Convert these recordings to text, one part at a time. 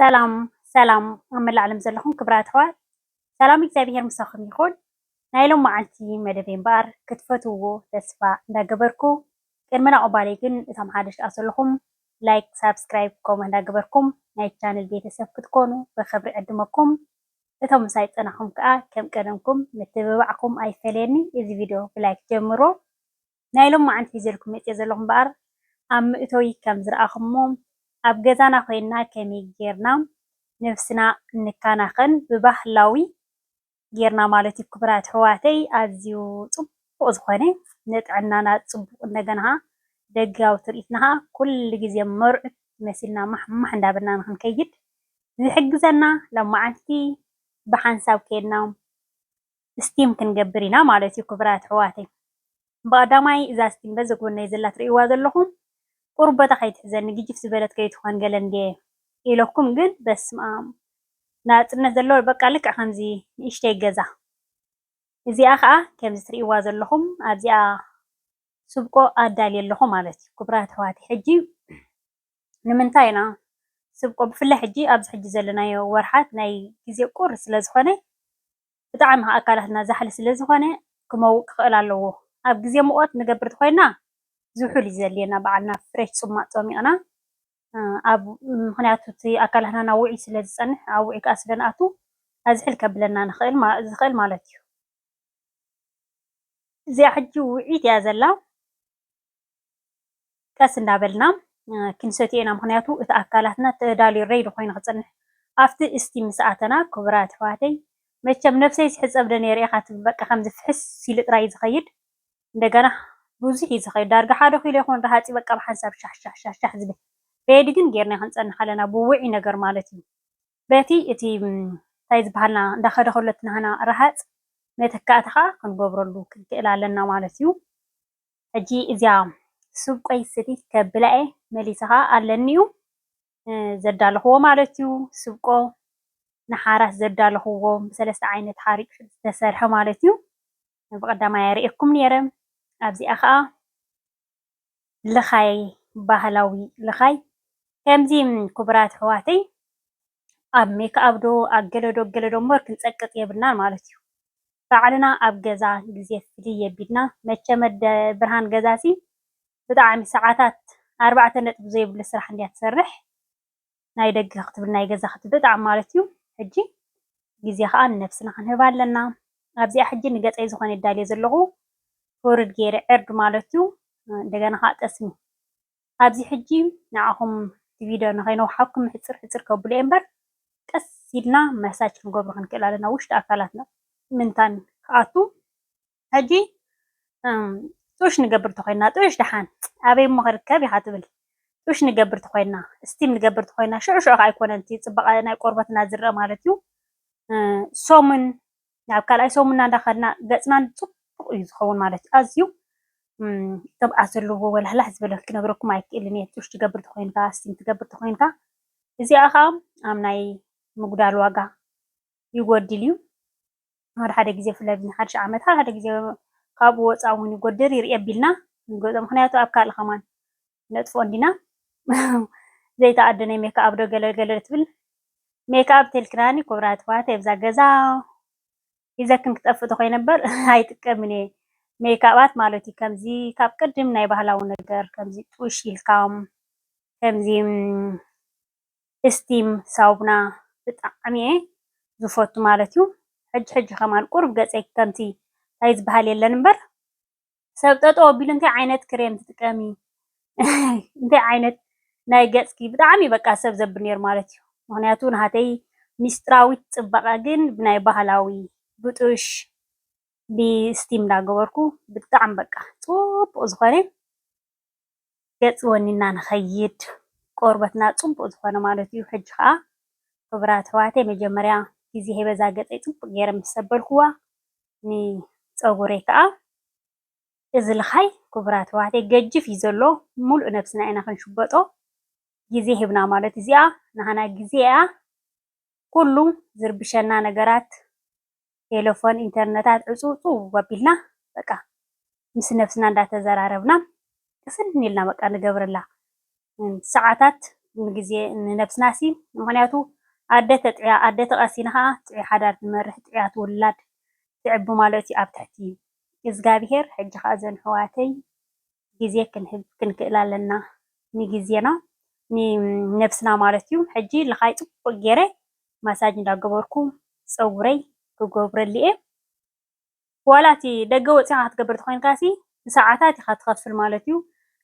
ሰላም ሰላም ኣብ መላእ ዓለም ዘለኹም ክብራት ኣሕዋት ሰላም እግዚኣብሄር ምሳኹም ይኹን። ናይ ሎም መዓልቲ መደበይ እምበኣር ክትፈትውዎ ተስፋ እንዳገበርኩ ቅድሚ ናቑባለይ ግን እቶም ሓደሽ ደኣ ዘለኹም ላይክ፣ ሳብስክራይብ፣ ከምኡ እንዳገበርኩም ናይ ቻነል ቤተሰብ ክትኮኑ ብኽብሪ ዕድመኩም። እቶም ምሳይ ጸናኹም ከኣ ከም ቀደምኩም ምትብባዕኩም ኣይፈለየኒ። እዚ ቪድዮ ብላይክ ጀምሮ። ናይ ሎማዓንቲ ሒዘልኩም መጽየ ዘለኹ እምበኣር ኣብ ምእቶይ ከም ዝራኣኹሞ ኣብ ገዛና ኮይና ከመይ ጌርና ነብስና ንካናኸን ብባህላዊ ጌርና ማለት እዩ ክቡራት ኣሕዋተይ ኣዝዩ ጽቡቅ ዝኾነ ንጥዕናና ጽቡቅ እንደገና ከኣ ደጋዊ ትርኢትና ከኣ ኩሉ ግዜ መርዑት መሲልና ማሕማሕ እንዳበልና ንኽንከይድ ዝሕግዘና ሎማዓንቲ ብሓንሳብ ኬድና ስቲም ክንገብር ኢና ማለት እዩ ክብራት ኣሕዋተይ ብቀዳማይ እዛ ስቲም በዚ ጎነይ ዘላ ትርእይዋ ዘለኹም ቁርበታ ከይትሕዘኒ ግጅፍ ዝበለት ከይትኾን ገለ እንድየ ኢለኩም ግን በስምኣም ናጽነት ዘለዎ በቃ ልክዕ ከምዚ ንእሽተይ ገዛ እዚኣ ከኣ ከምዚ ትርእይዋ ዘለኹም ኣብዚኣ ስብቆ ኣዳልየ ኣለኹ ማለት እዩ ክብራት ኣሕዋተይ ሕጂ ንምንታይ ኢና ስብቆ ብፍላይ ሕጂ ኣብዚ ሕጂ ዘለናዮ ወርሓት ናይ ግዜ ቁሪ ስለ ዝኾነ ብጣዕሚ ከኣ ኣካላትና ዛሕሊ ስለ ዝኾነ ክመውቅ ክኽእል ኣለዎ። ኣብ ግዜ ሙቆት ንገብር ተኾይና ዝሑል እዩ ዘድልየና ባዕልና ፍሬሽ ጽሟቅ ጸሚቅና ኣብ ምኽንያቱ እቲ ኣካላትና ናብ ውዑይ ስለ ዝጸንሕ ኣብ ውዑይ ከኣ ስለ ንኣቱ ኣዝሕል ከብለና ዝኽእል ማለት እዩ። እዚኣ ሕጂ ውዕይት እያ ዘላ። ቀስ እንዳበልና ክንሰትዮ ኢና ምክንያቱ እቲ ኣካላትና ተዳልዩ ረይዲ ኮይኑ ክጽንሕ ኣብቲ እስቲ ምስ ኣተና ክቡራት ኣሕዋተይ መቸም ነብሰይስ ሕጸብ ዶ ነይረ ኢካ ትብል በቃ ከምዚ ፍሕስ ኢሉ ጥራይ እዩ ዝከይድ እንደገና ብዙሕ እዩ ዝከይድ ዳርጋ ሓደ ኪሎ ይከውን ረሃጺ በቃ ብሓንሳብ ሻሕ ሻሕ ሻሕ ዝብል ረይዲ ግን ገይርና ክንጸንሕ ኣለና ብውዑይ ነገር ማለት እዩ በቲ እቲ እንታይ ዝበሃልና እንዳኸደ ከሎ እቲ ናህና ረሃፅ መተካእታ ከዓ ክንገብረሉ ክንክእል ኣለና ማለት እዩ። ሕጂ እዚኣ ስብ ቆይ ስቲ ከብላ እየ መሊሰ ከዓ ኣለኒ እዩ ዘዳለኹዎ ማለት እዩ ስብቆ ንሓራስ ዘዳለኹዎ ብሰለስተ ዓይነት ሓሪጭ ዝተሰርሐ ማለት እዩ ብቀዳማይ ኣርእየኩም ነይረ ኣብዚኣ ከዓ ልኻይ ባህላዊ ልኻይ ከምዚ ክቡራት ኣሕዋተይ ኣብ ሜክኣብ ዶ ኣብ ገለ ዶ ገለ ዶ እምበር ክንጸቅጥ የብልናን ማለት እዩ። ባዕልና ኣብ ገዛ ግዜ ፍልይ የቢልና መቸም ኣደ ብርሃን ገዛሲ ብጣዕሚ ሰዓታት ኣርባዕተ ነጥቢ ዘይብሉ ስራሕ እንድያ ትሰርሕ። ናይ ደገ ክትብል ናይ ገዛ ክትብል ብጣዕሚ ማለት እዩ ሕጂ ግዜ ከዓ ንነብስና ክንህባ ኣለና ኣብዚኣ ሕጂ ንገፀይ ዝኾነ የዳልዮ ዘለኹ ፎርድ ገይረ ዕርድ ማለት እዩ እንደገና ከዓ ጠስሚ ኣብዚ ሕጂ ንዓኹም እቲ ቪድዮ ንኸይነውሓኩም ሕፅር ሕፅር ከብሎ እየ እምበር ቀስ ኢልና መሳጅ ክንገብሮ ክንክእል ኣለና ውሽጢ ኣካላትና ምንታን ክኣቱ ሕጂ ጡሽ ንገብር ተኾይንና ጡሽ ደሓን ኣበይ እሞ ክርከብ ኢኻ ትብል ጡሽ ንገብር ተኾይንና እስቲም ንገብር ተኾይንና ሽዑ ሽዑ ከኣ ኣይኮነን እቲ ጽባቐ ናይ ቆርበትና ዝርኣ ማለት እዩ ሰሙን ናብ ካልኣይ ሰሙንና እንዳኸድና ገጽና ጽቡቕ ጽቡቕ እዩ ዝኸውን ማለት እዩ ኣዝዩ ቅብኣት ዘለዎ ወላህላህ ዝበለ ክነግረኩም ኣይክእልን እየ ጡሽ ትገብር ተኮይንካ ስቲም ትገብር ተኮይንካ እዚኣ ከዓ ኣብ ናይ ምጉዳል ዋጋ ይጎድል እዩ። ሓደ ሓደ ግዜ ብፍላይ ኣብ ሓዱሽ ዓመት ሓደ ሓደ ግዜ ካብኡ ወፃኢ እውን ይጎድል ይርኢ ኣቢልና ንገዝኦ። ምኽንያቱ ኣብ ካልእ ከማን ነጥፍኦ እንዲና ዘይተኣዶ ናይ ሜክኣብ ዶ ገለ ገለ ትብል ሜክኣብ ተልክናኒ ኩብራ ትፋተ ብዛ ገዛ ሒዘክን ክጠፍእ ተኮይነ እምበር ኣይጥቀምን እየ ሜክኣባት ማለት እዩ። ከምዚ ካብ ቅድም ናይ ባህላዊ ነገር ከምዚ ጡሽ ኢልካ ከምዚ እስቲም ሳውና ብጣዕሚ እየ ዝፎቱ ማለት እዩ ሕጂ ሕጂ ከማን ቁሩብ ገጸይ ከምቲ ታይ ዝባሃል የለን እምበር ሰብ ጠጠው ኣቢሉ እንታይ ዓይነት ክሬም ትጥቀሚ እንታይ ዓይነት ናይ ገጽኪ ብጣዕሚ እዩ በቃ ሰብ ዘብል ነይሩ ማለት እዩ ምክንያቱ ናሃተይ ሚስጥራዊት ጽባቀ ግን ብናይ ባህላዊ ብጡሽ ብስቲም እንዳገበርኩ ብጣዕሚ በቃ ጽቡቅ ዝኮነ ገጽ ወኒና ንከይድ ቆርበትና ጽቡቅ ዝኮነ ማለት እዩ ሕጂ ከኣ ክብራት ኣሕዋተይ መጀመርያ ግዜ ሂበ እዛ ገጸይ ጽቡቅ ጌረ ምስ ሰበልኩዋ ንጸጉረይ ከኣ እዚ ልካይ ክብራት ኣሕዋተይ ገጅፍ እዩ ዘሎ ሙሉእ ነብስና ኢና ክንሽበጦ ግዜ ሂብና ማለት እዚኣ ናህና ግዜ እያ ኩሉ ዝርብሸና ነገራት ቴለፎን ኢንተርነታት ዕፅውፅው ኣቢልና በቃ ምስ ነብስና እንዳተዘራረብና ቅስን ኢልና በቃ ንገብረላ ሰዓታት ንግዜ ንነብስናሲ ምክንያቱ ኣደ ተጥዕያ ኣደ ተቀሲና ከዓ ጥዑይ ሓዳር ትመርሕ ጥዑያት ውላድ ትዕቢ ማለት እዩ ኣብ ትሕቲ እዝጋቢሄር ሕጂ ከዓ እዘን ኣሕዋተይ ግዜ ክንህብ ክንክእል ኣለና ንግዜና ንነብስና ማለት እዩ ሕጂ ልኻይ ጽቡቅ ጌረ ማሳጅ እንዳገበርኩ ጸጉረይ ክገብረሉ እየ ዋላ እቲ ደገ ወጺኻ ክትገብር ተኾይንካሲ ብሰዓታት ኢኻ ትኸፍል ማለት እዩ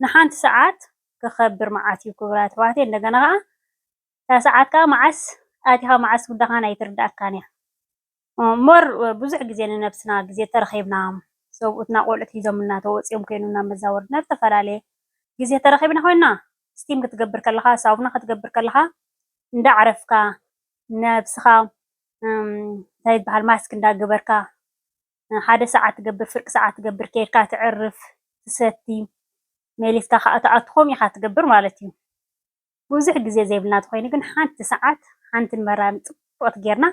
ንሓንቲ ሰዓት ክኸብር መዓት እዩ ክብራት ኣሕዋተይ እንደገና ኸኣ እታ ሰዓት ከኣ መዓስ ኣቲኻ መዓስ ውዳኻን ኣይትርድኣካን እያ። እምበር ብዙሕ ግዜ ንነብስና ግዜ ተረኺብና ሰብኡትና ቆልዑት ሒዞምልና ተወጺኦም ኮይኑ ናብ መዛወርቲ ናብ ዝተፈላለየ ግዜ ተረኺብና ኮይና ስቲም ክትገብር ከለኻ ሳውና ክትገብር ከለኻ እንዳ ኣዕረፍካ ነብስኻ እንታይ ይበሃል ማስክ እንዳ ገበርካ ሓደ ሰዓት ትገብር ፍርቂ ሰዓት ትገብር ኬድካ ትዕርፍ ትሰቲ መሊስካ ከኣ ትኣቱ ከምኡ ኢኻ ትገብር ማለት እዩ። ብዙሕ ግዜ ዘይብልና ተኾይኑ ግን ሓንቲ ሰዓት ሓንቲ ንመራር ጽብቕቲ ጌርና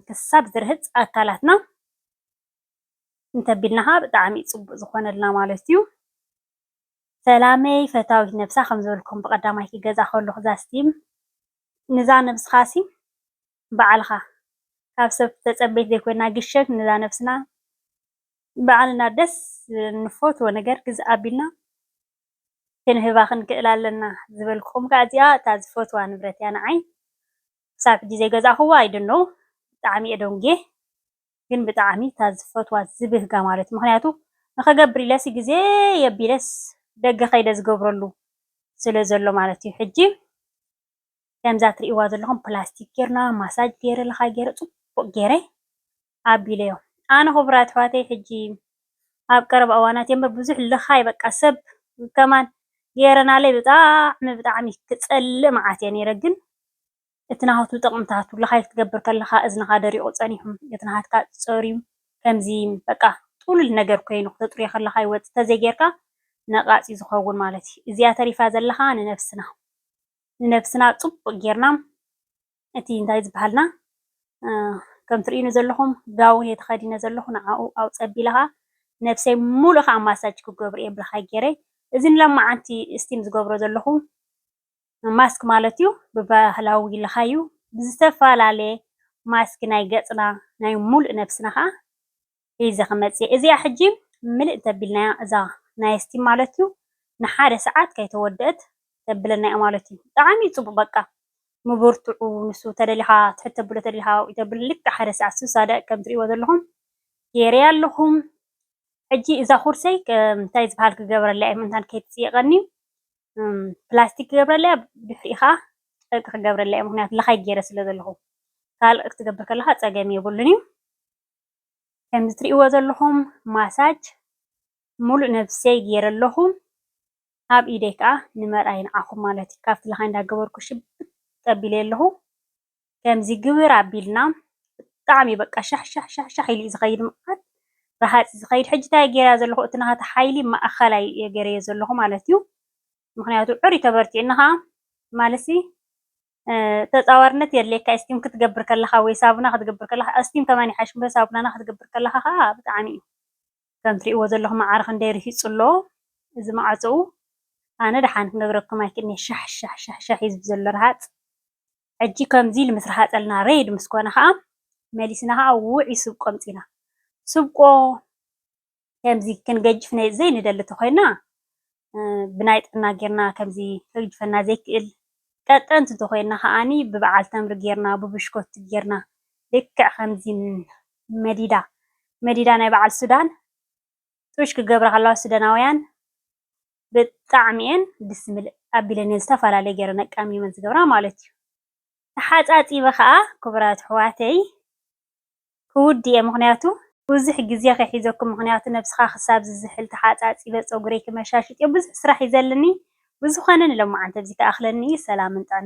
ክሳብ ዝርህጽ ኣካላትና እንተቢልና ከኣ ብጣዕሚ ጽቡቕ ዝኾነልና ማለት እዩ። ሰላመይ ፈታዊት ነብሳ ከም ዝበልኩም ብቀዳማይቲ ገዛ ከለኹ ዛስቲም ንዛ ነብስኻሲ ባዕልኻ ካብ ሰብ ተጸበይቲ ዘይኮይና ግሸግ ንዛ ነብስና ባዕልና ደስ ዝብለና ንፈትዎ ነገር ግዝ ኣቢልና ክንህባ ክንክእል ኣለና ዝበልኩኹም ከኣ እዚኣ እታ ዝፈትዋ ንብረት እያ ንዓይ ክሳብ ሕጂ ዘይገዛእክዋ I don't know ብጣዕሚ እየ ደንጉየ ግን ብጣዕሚ እታ ዝፈትዋ ዝብህጋ ማለት ምኽንያቱ ንኽገብር ኢለሲ ግዜ የቢለስ ደገ ከይደ ዝገብረሉ ስለ ዘሎ ማለት እዩ ሕጂ ከምዛ ትርእይዋ ዘለኹም ፕላስቲክ ጌርና ማሳጅ ገይረ ለኻይ ገይረ ጽቡቕ ገይረ ኣቢለዮ ኣነ ኩቡራት ኣሕዋተይ ሕጂ ኣብ ቀረባ እዋናት እዮ እምበር ብዙሕ ልኻይ በቃ ሰብ ከማን ገይረናለይ ብጣዕሚ ብጣዕሚ ክጸልእ መዓት እየ ነይረ ግን እቲ ናቱ ጥቅምታቱ ልኻይ ክትገብር ከለኻ እዝንኻ ደሪቁ ጸኒሑ እቲ ናትካ ጸርዩ ከምዚ በቃ ጥሉል ነገር ኮይኑ ክተጥርዮ ከለኻ ይወጽእ ተዘይ ገይርካ ነቃጽ እዩ ዝኸውን ማለት እዩ እዚኣ ተሪፋ ዘለኻ ንነብስና ንነብስና ጽቡቅ ገይርና እቲ እንታይ ዝበሃልና ከምቲ ትርእዩኒ ዘለኹም ጋውን እየ ተኸዲነ ዘለኹ ንዓኡ ኣብ ፀቢለ ከዓ ነብሰይ ሙሉእ ከዓ ማሳጅ ክገብር እየ ብልኻይ ገይረ እዚ ንሎማዓንቲ እስቲም ዝገብሮ ዘለኹ ማስክ ማለት እዩ ብባህላዊ ልኻይ እዩ ብዝተፈላለየ ማስክ ናይ ገፅና ናይ ሙሉእ ነብስና ከዓ ሒዘ ክመጽእ እየ እዚኣ ሕጂ ምልእ እንተቢልናያ እዛ ናይ እስቲም ማለት እዩ ንሓደ ሰዓት ከይተወደእት ተብለና እያ ማለት እዩ ጠዓሚ እዩ ጽቡቅ በቃ ምብርትዑ ንሱ ተደሊካ ትሕት ተብሎ ተደሊካ ኣብኡ ተብል ልክዕ ሓደ ሰዓት ስሳ ደቂቅ ከም ትርእይዎ ዘለኹም ጌረያ ኣለኹ ሕጂ እዛ ኩርሰይ እንታይ ዝበሃል ክገብረለያ እየ ምእንታን ከይትጽይቀኒ ፕላስቲክ ክገብረለያ ድሕሪኡ ከዓ ጨርቂ ክገብረለያ እየ ምክንያቱ ለኻይ ጌረ ስለ ዘለኹ ካልእ ክትገብር ከለካ ጸገም የብሉን እዩ ከምዚ ትሪእዎ ዘለኹም ማሳጅ ሙሉእ ነብሰይ ገይረ ኣለኹ። ኣብ ኢደይ ከዓ ንመርኣያ ንዓኹም ማለት እዩ ካብቲ ላኻይ እንዳገበርኩ ሽብጥ ኣቢለ ኣለኹ። ከምዚ ግብር ኣቢልና ብጣዕሚ በቃ ሻሕሻሕ ኢሉ እዩ ዝኸይድ መዓት ረሃፅ እዩ ዝኸይድ። ሕጂ እንታይ እየ ገይረያ ዘለኹ እቲ ናሃተይ ሓይሊ ማእኸላይ እየ ገይረዮ ዘለኹ ማለት እዩ። ምኽንያቱ ዕርዩ ተበርቲዑኒ ኻዓ ማለሲ ተጻዋርነት የድልየካ እዩ እስቲም ክትገብር ከለካ ወይ ሳቡና ክትገብር ከለካ እስቲም ከማን ይሓይሽ እምበር ሳቡናና ክትገብር ከለካ ከኣ ብጣዕሚ እዩ ከም ትሪእዎ ዘለኩም መዓር ክንደይ ርሂጹ ኣሎ እዚ መዓጽኡ ኣነ ደሓን ክነግረኩም ኣይክእልንየ ሻሕ ሻሕ ሻሕ ሻሕ እዩ ዝብል ዘሎ ረሃጽ ሕጂ ከምዚ ኢሉ ምስ ረሃጸልና ሬድ ምስ ኮነ ከኣ መሊስና ከኣ ውዕ እዩ ስብ ቆምጺና ስብቆ ከምዚ ክንገጅፍ ዘይንደሊ እንተኾይና ብናይ ጥዕና ጌርና ከምዚ ከግጅፈና ዘይክእል ቀጠንቲ እንተኾይና ከኣ ብበዓል ተምሪ ጌርና ብብሽኮቲ ጌርና ልክዕ ከምዚ መዲዳ መዲዳ ናይ በዓል ሱዳን ጡሽ ክገብራ ከለዋ ሱዳናውያን ብጣዕሚ እየን ድስ ዝብል ኣቢለን እየን ዝተፈላለየ ገይረን ኣቃሚመን ዝገብራ ማለት እዩ። ተሓጻጺበ ከኣ ክቡራት ኣሕዋተይ ክውድ'የ ምኽንያቱ ብዙሕ ግዜ ከይሕዘኩም ምኽንያቱ ነብስኻ ክሳብ ዝዝሕል ተሓጻጺበ ጸጉረይ ክመሻሽጥ'ዮ ብዙሕ ስራሕ ዩ ዘልኒ ብዝኾነ ንሎምዓንቲ ኣብዚ ክኣኽለኒ ዩ ሰላምን ጥዕናን።